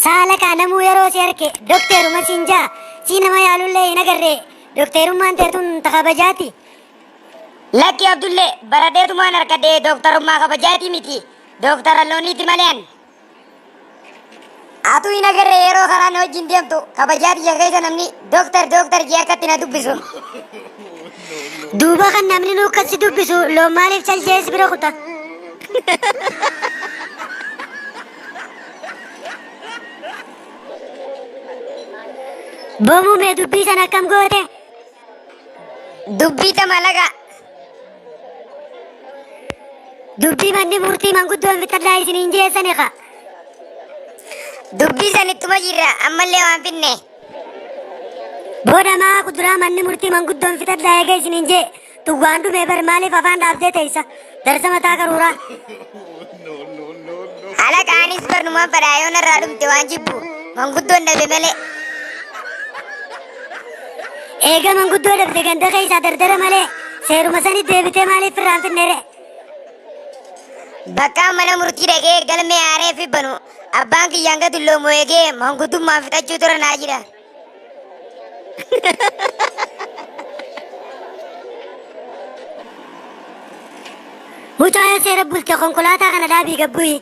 Saala kaa namuu yeroo si arke dokteeruma siin jaa sii nama yaalullee hin agarre dokteerummaan teetun ta kabajaati. Lakki Abdullee baradheetumaan harkadhe dooktarummaa kabajaatii miti dooktara looniiti malee an. Atuu hin agarre yeroo karaan wajjin deemtu kabajaa biyya keessa namni Doktar doktar jee akkatti na dubbisu. Duuba kan namni nu akkasi dubbisu loon maaliif caljees bira kuta. Boomuu mee dubbii san akkam goote? Dubbii ta malaga. Dubbii manni murtii manguddoon fixadhaa isiniin jeessani ka. Dubbii san ittuma jirra ammallee waan finne. Booda maa kuduraa manni murtii manguddoon fixadhaa eega isiniin jee duwwaan dhumee bar maaliif afaan dhaabdee teessa darsa mataa qaruuraa. Halaqaanis barnumaan fadhaa yoo narraa dhumte waan jibbu manguddoon dhabe malee. Eega manguddoo dhabde ganda keessaa dardara malee seeruma sanii deebitee maaliif irraan finnere. Bakka mana murtii dhagee galmee aaree fi banu Abbaan kiyya hanga dulloomu eegee manguddummaan fixachuu tura naa jira. Mucaa seera bulte konkolaataa kana dhaabii gabbuyi.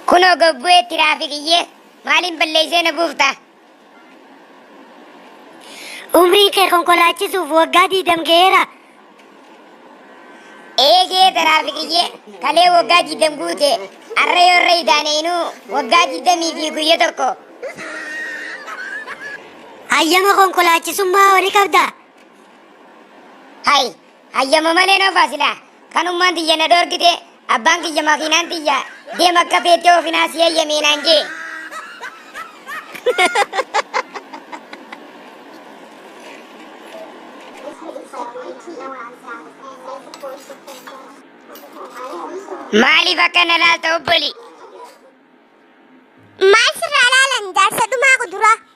Kunoo gabbu'ee tiraafikiyyee maaliin balleessee na buufta? Umrii kee konkolaachisuuf waggaa diidam ga'eera. Eegee taraafikiyyee kalee waggaa diidam guute arra yoo irra idaaneenuu waggaa diidamii fi guyya tokko. Hayyama konkolaachisummaa horii qabda. Hay Hayyama malee na oofaa silaa. Kanummaan tiyya na dhoorgite abbaan kiyya makiinaan tiyya deem akka feettee oofinaa si hayyamee naan jee. Maaliif akka na laalta obboli? Maal sirraa laalan jaarsa dhumaa kuduraa.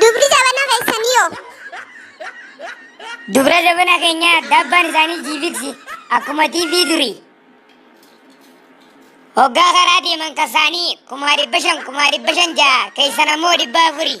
Dubri jabana keessanii hoo? Dubra jabana keenya dabbaan isaanii jiifiksi akkuma TV durii. Hoggaa karaa deeman kasaanii kumaa dhibba shan kumaa dhibba shan ja'a keessan ammoo dhibba afurii.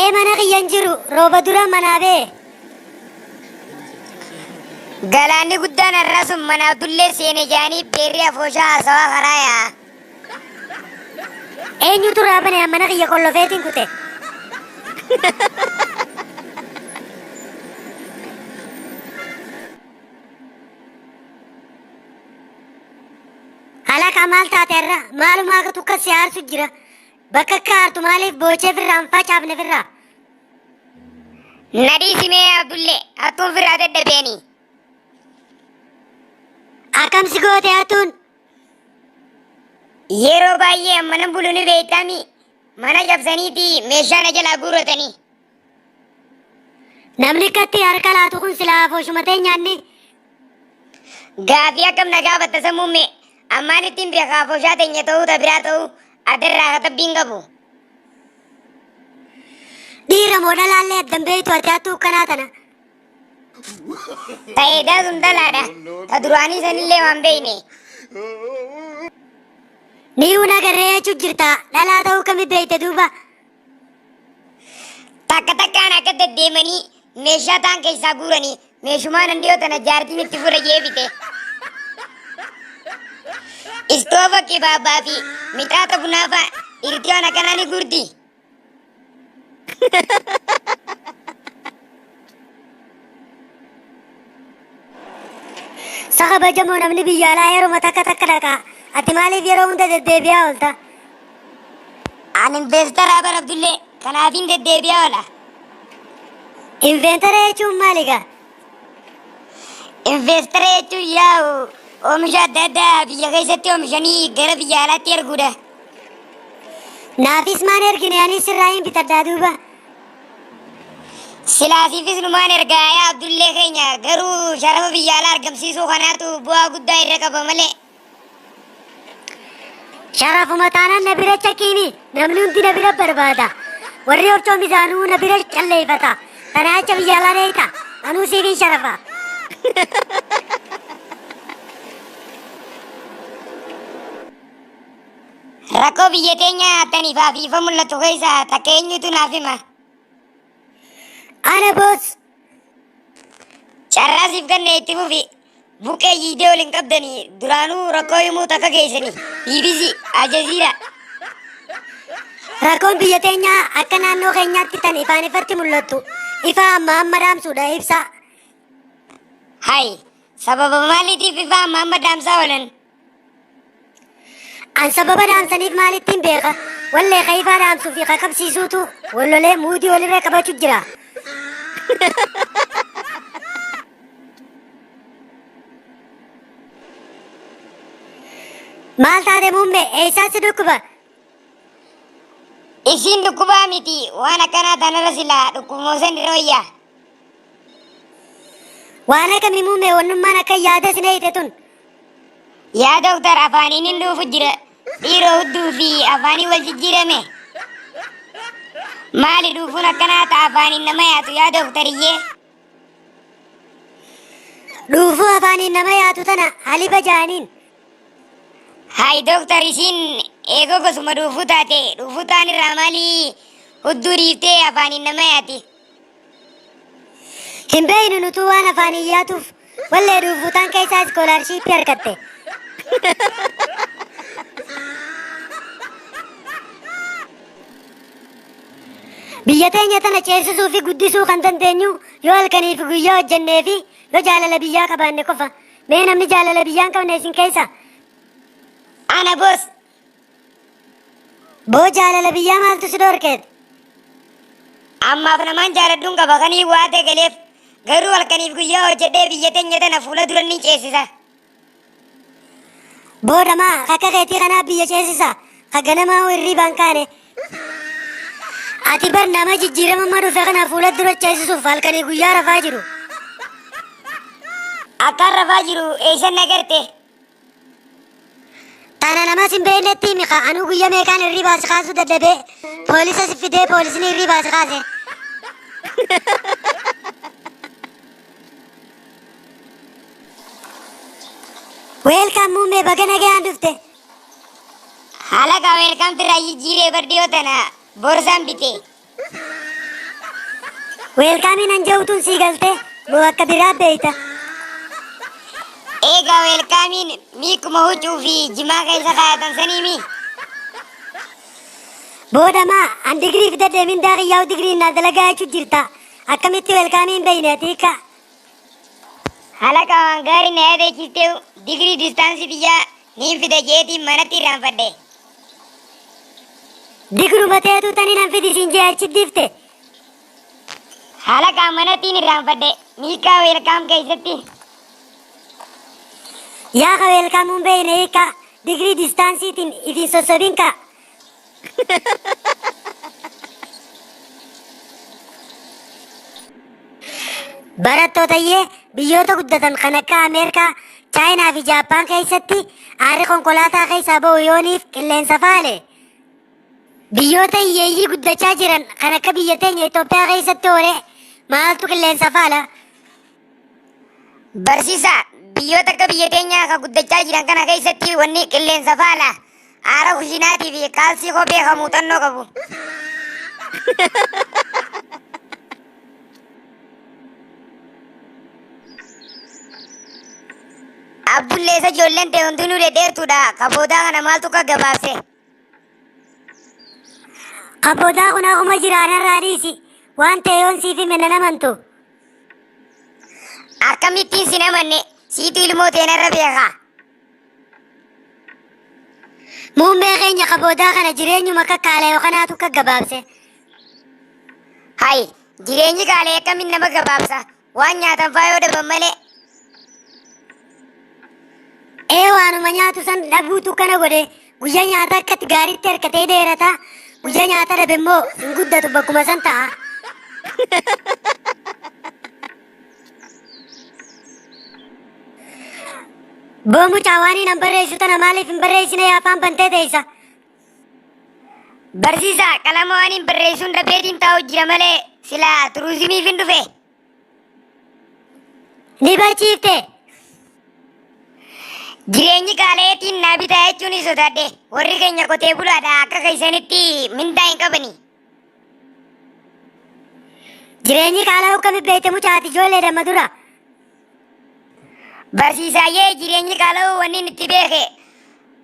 Ee mana kiyya hin jiru rooba dura manaa bee. Galaanni guddaan har'aa sun mana Abdullee seene jaanii beerri afooshaa haasawaa karaa yaa'a. Eenyutu raabane mana kiyya qollofeetiin kute. Halaqa maal taate irra maalumaa akka tukka si aarsu jira. Bakka akka aartu maaliif boochee firraa hin facaafne firraa? Nadhii simee Abdullee hattuun firraa dadhabeeni. Akkam si goote hattuun? Yeroo baay'ee mana bulu ni beektami. Mana cabsaniiti meeshaa na jalaa guurratanii. Namni katti harka laatu kun silaa afooshuma teenyaanni. Gaafii akkam na gaafatta sammuu mee ammaan ittiin beekaa afooshaa teenya ta'uu ta biraa ta'uu addarraa katabbiin qabu. Dhiira moo dhalaallee addan beektu ati hattuu kanaa tana. Ta'ee daasuun dalaadha. Ta duraanii sanillee waan beekne. Ni una garree jechuun jirta dhalaa ta'uu kami beekte duuba. Takka takkaan akka deddeemanii meeshaa taan keessaa guuranii meeshumaa nan dhiyoo tana jaartiin itti fudha jee bite. Istoofa kibaabaa fi mixaata bunaa fa'a irtiyoon akkanaa ni guurti. Saka bajamoo namni biyya alaa yeruma takka takka dhaqa. Ati maaliif yeroo hunda deddeebi'aa oolta? An investara bara Abdullee kanaafin deddeebi'aa oola. Inventara jechuun maali gaa? Investara jechuun yaa'u oomisha adda addaa biyya keessatti oomishanii gara biyya alaatti erguudha. Naafis maan ergine anis sirraa hin bitadhaa duuba. Silaa siifis numaan ergaa yaa Abdullee keenya garuu sharafa biyya alaa argamsiisuu kanaatu bu'aa guddaa irra qaba malee. Sharafuma taanaan na bira caqiini namni hundi na bira barbaada. Warri horcoon isaanuu na bira calleeffata. Kanaa jecha biyya alaa deeyta. Anuu siifin sharafa. Rakkoo biyya keenya tani faafiifa mul'atu keessa takka eenyutu naaf hima. Ana boos carraa siif ganne itti fufi buqqee jiidee waliin qabdani duraanuu rakkoo himuu takka keessani BBC Aljaziira. Rakkoon biyya teenyaa akka naannoo keenyaatti tan ifaan ifatti mul'attu ifaa amma amma dhaamsuudha ibsaa. Hay sababa maaliitiif ifaa amma amma dhaamsaa oolan. An sababa dhaamsaniif maalittiin beeka? Wallee kayifaa dhaamsuu fi kakabsiisuutu wallolee muudii walirra qabachu jira. Maal taate muummee eessaa si dhukkuba? Isiin dhukkubaa miti waan akkanaa tanarra silaa dhukkubmoosan dhirooyya. Waan akkamii muummee wannummaan akka yaada sinee hidhe tun Yaa doktar afaaniin hin dhuufu jira dhiiroo hudduu fi afaanii wal jijjiirame. Maali dhuufuun akkanaa ta'a afaaniin nama yaatu yaa doktariyyee. Dhuufuu afaaniin nama yaatu tana haliba jaaniin. Hayi doktar isiin eegoo gosuma dhuufuu taate dhuufuu taan irraa maalii hudduu dhiiftee afaaniin nama yaati. Hin beeynu nutuu waan afaan iyyaatuuf wallee dhuufuutaan keessaa iskoolaarshiippii harkatte. Biyya teenya tana ceesisuu fi guddisuu kan dandeenyu yoo halkanii fi guyyaa hojjennee fi yoo jaalala biyyaa qabaanne qofa. Mee namni jaalala biyyaa hin qabne isin keessa? Ana boos Boo jaalala biyyaa maaltu si dhorkeet? Ammaaf namaan jaaladhuun qaba kanii waatee galeef garuu halkaniif guyyaa hojjedhee biyya teenya tana fuula duran ni ceesisa. Boo dhamaa kakka keetii kanaa biyya ceesisa ka ganamaa hoo hirriibaan kaane. Ati bar nama jijjiirama amma dhufe kana fuula dura ceesisuuf halkanii guyyaa rafaa jiru. Akkaan rafaa jiru eessan nagarte. Tana nama sin beeknetti himi kaa anuu guyya meeqaan hirribaa si kaasuu dadhabee poolisa si fidee poolisni hirribaa si kaase. Weelkaan muummee baga nagayaan dhufte. Halaqa weelkamti irraa jijjiiree bardiyoo tana borsaan bitee. Weelkaamiin an je'u tun sii galte moo akka biraa beeyta? Eegaa weelkaamiin miikuma huccuu fi jimaa keessa kaayatan sanii mii? Booda maa an digirii fidadhee mindaa kiyyaa'u digiriin naa dalagaa jechu jirta akkamitti weelkaamii hin beeyne ati ka? Halaqa waan gaarii na yaadachiisteehu digirii distaansii tiyyaa Niin fida jeetiin manatti irraanfadhe. Digruma teetuu tani nan fidi siin jee achi difte. Halaqaa manattiin irraanfadhe. Miikaa weelkaam keessatti. Yaa ka weelkaamuun beeyne hiikaa. Digrii distaansiitiin ifiin sossobinkaa. Barattootayyee biyyoota guddatan kan akka Ameerikaa, Chaayinaa fi Jaappaan keessatti aarri konkolaataa keessaa ba'u yooniif qilleensa faale. Biyyoota hiyyeeyyii guddachaa jiran kan akka biyya teenya Itoophiyaa keessatti oolee maaltu qilleensa faala? Barsiisaa, biyyoota akka biyya teenyaa ka guddachaa jiran kana keessatti wanni qilleensa faala, aara kushiinaatii fi kaalsii kophee ka muuxannoo qabu. Abbulleessa ijoolleen ta'e hundinuu dhedheertuudha. Ka boodaa kana maaltu akka gabaabse. Abboodaa kun akkuma jiraanarraa dhiisi. Waan ta'e yoon siif hime nan amantu. Akkamittiin sin amanne siitu ilmoo teenarra beeka. Muummee keenya kaboodaa kana jireenyuma akka kaalayo kanaatu akka gabaabse. Hayi jireenyi kaalee akkamiin nama gabaabsa Waan nyaatan faa yoo dhaban malee. Ee waanuma nyaatu san dhabuutu kana godhe guyyaa nyaataa akkatti gaariitti harkatee dheerata guyyaa nyaata dhabe immoo hin guddatu bakkuma san ta'a. Boo mucaa waan hin barreessu tana maaliif hin barreessine afaan bantee teessa. Barsiisaa qalama waaniin barreessuun dhabeetiin taa'u jira malee silaa turuuzimiif hin dhufe. Ni barsiifte. Jireenyi qaalayeetiin naa bitaa jechuun sodaadhe. Warri keenya qotee bulaadha akka keessanitti mindaa hin qabani. Jireenyi qaala'uu akkamitti beekte mucaati ijoollee damma dura. Barsiisaayyee jireenyi qaala'uu wanni inni itti beeke.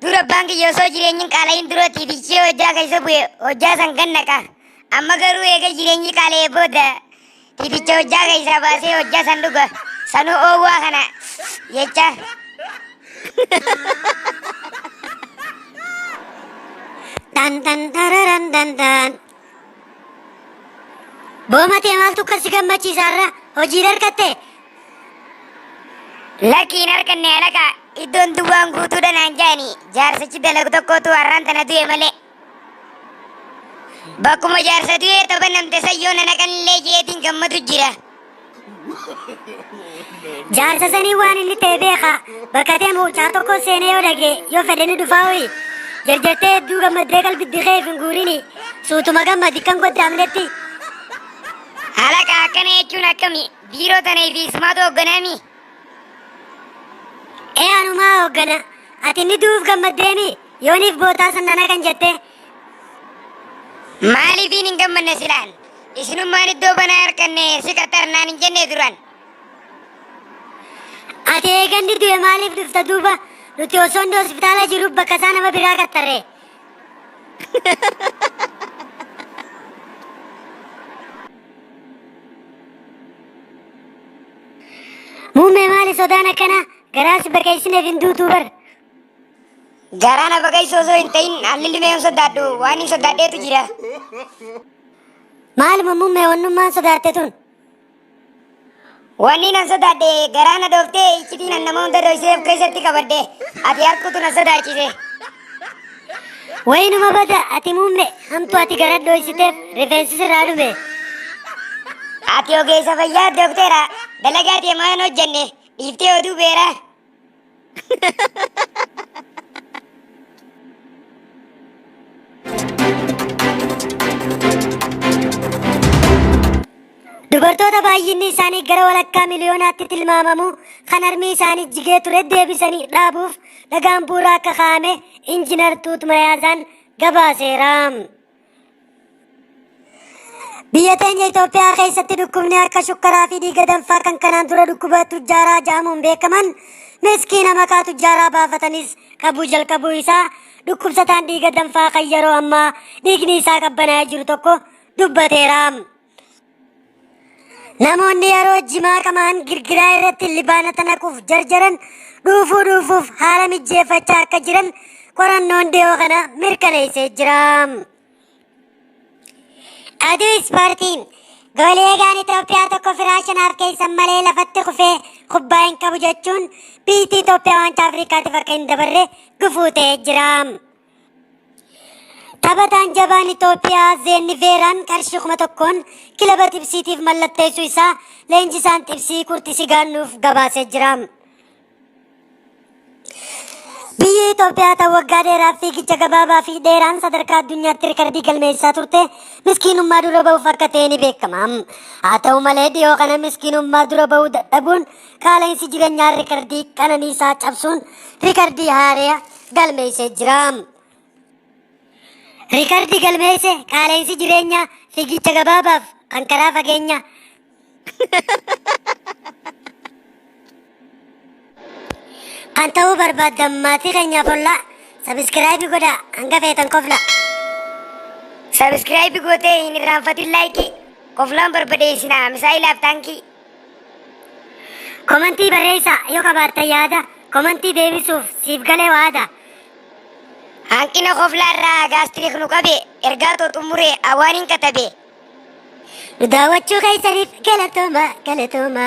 Dura abbaan kiyya osoo jireenyi hin qaala'iin dura tiitichee hojjaa keessa bu'e hojjaa san gannaqa. Amma garuu eega jireenyi qaala'ee booda Dibicha hojjaa keessaa baasee hojjaa san dhuga. Sanuu oowwaa kana jecha. Dan dan dararan dan dan. Boomatee maaltu kan si gammachiisa irra hojii dargatte? Lakkiin harkanne alaqa iddoon duwwaan guutuudha naan jaani jaarsichi dalagu tokkotu har'aan tana du'e malee. Bakkuma jaarsa du'ee toba namte san yoo na naqanillee jeetiin gammadu jira. Jaarsa sanii waan inni ta'e beeka. Bakka deemu caa tokko seenee yoo dhage yoo fedhe ni dhufaa ho'i. Jarjartee hedduu gammaddee qalbiddi keef hin guurini. Suutuma gammadi kan goddaamnetti. Halaqa akkana jechuun akkami? Biiroo tana fi ismaatu hogganaami? Ee anumaa hooggana ati inni du'uuf gammaddeemi yooniif bootaa san nana kan jette Maaliifiin hin gammanne silaan? Isinummaan iddoo banaa harkanne si qaxxarnaan hin jenne duran. ati eeganni du'e maaliif dhufta duuba nuti osoo inni hospitaala jiru bakka isaa nama biraa qaxxarre Muummee maali sodaan akkanaa garaa si baqeessineef hin duutuu bar. Garaa na baqeessu osoo hin ta'in haalli limee hin sodaadhu waan hin sodaadheetu jira. Maaluma muummee wannummaan sodaatte tun. Wanni nan sodaadhe garaa na dhooftee iccitii nan nama hunda dhoksee of keessatti qabadde ati harkuutu na sodaachise. Wayinuma bada ati muumme hamtu ati gara dhoysiteef rifeensi sirraa dhume. Ati ogeessa fayyaa doktera dalagaa ati ammaa hin hojjenne dhiiftee oduu beeraa. Dubartoota baay'inni isaanii gara walakkaa miliyoonaatti tilmaamamu kan harmii isaanii jigee ture deebisanii dhaabuuf dhagaan bu'uuraa akka kaa'ame injinar Tuut Mayaazaan gabaaseera. Biyya teenya Itoophiyaa keessatti dhukkubni akka shukkaraa fi dhiiga danfaa kan kanaan dura dhukkuba tujjaaraa jedhamuun beekaman miskiina maqaa tujjaaraa baafatanis qabuu jalqabuu isaa dhukkubsataan dhiiga danfaa kan yeroo ammaa dhiigni isaa qabbanaa'ee jiru tokko dubbateera. Namoonni yeroo jimaa qamaan girgiraa irratti libaanata naquuf jarjaran dhuufuu dhuufuuf haala mijjeeffachaa akka jiran qorannoon dhiyoo kana mirkaneessee jira. Aduu ispoortii goolieegaan Itoophiyaa tokko firaa shanaaf keessan malee lafatti kufee kubbaa hin qabu jechuun biyyi Itoophiyaa waancaa Afrikaatiif akka hin dabarre gufuu ta'ee jira. Taphataan jabaan Itoophiyaa Zeenni Veeraan qarshii kuma tokkoon kilaba Xibsiitiif mallatteessuu isaa leenjisaan Xibsii Kurtisi Gaannuuf gabaasee jira. Biyyi Itoophiyaa ta'u waggaa dheeraa fiigicha gabaabaa fi dheeraan sadarkaa addunyaatti rikardii galmeessaa turte miskiinummaa dura ba'uuf akka ta'e ni beekama. Haa ta'u malee dhiyoo kana miskiinummaa dura ba'uu dadhabuun Qaala'insi jireenyaa riikardii qananiisaa cabsuun riikardii haaraa galmeessee jira. Riikardii galmeesse qaala'insi jireenyaa fiigicha gabaabaaf kan karaa fageenya kan ta'uu barbaaddan maatii keenyaaf ollaa sabiskiraayibii godhaa hanga feetan kofla. Sabiskiraayibii gootee hin irraanfatin laayikii. Koflaan barbadeessinaa misaa'ilaaf taankii. Komantii barreessaa yoo qabaattan yaada komantii deebisuuf siif galee waada. Hanqina koflaa irraa gaastirik nu qabe ergaa too xumure awaanin katabe. Nu daawwachuu keessaniif galatooma galatooma.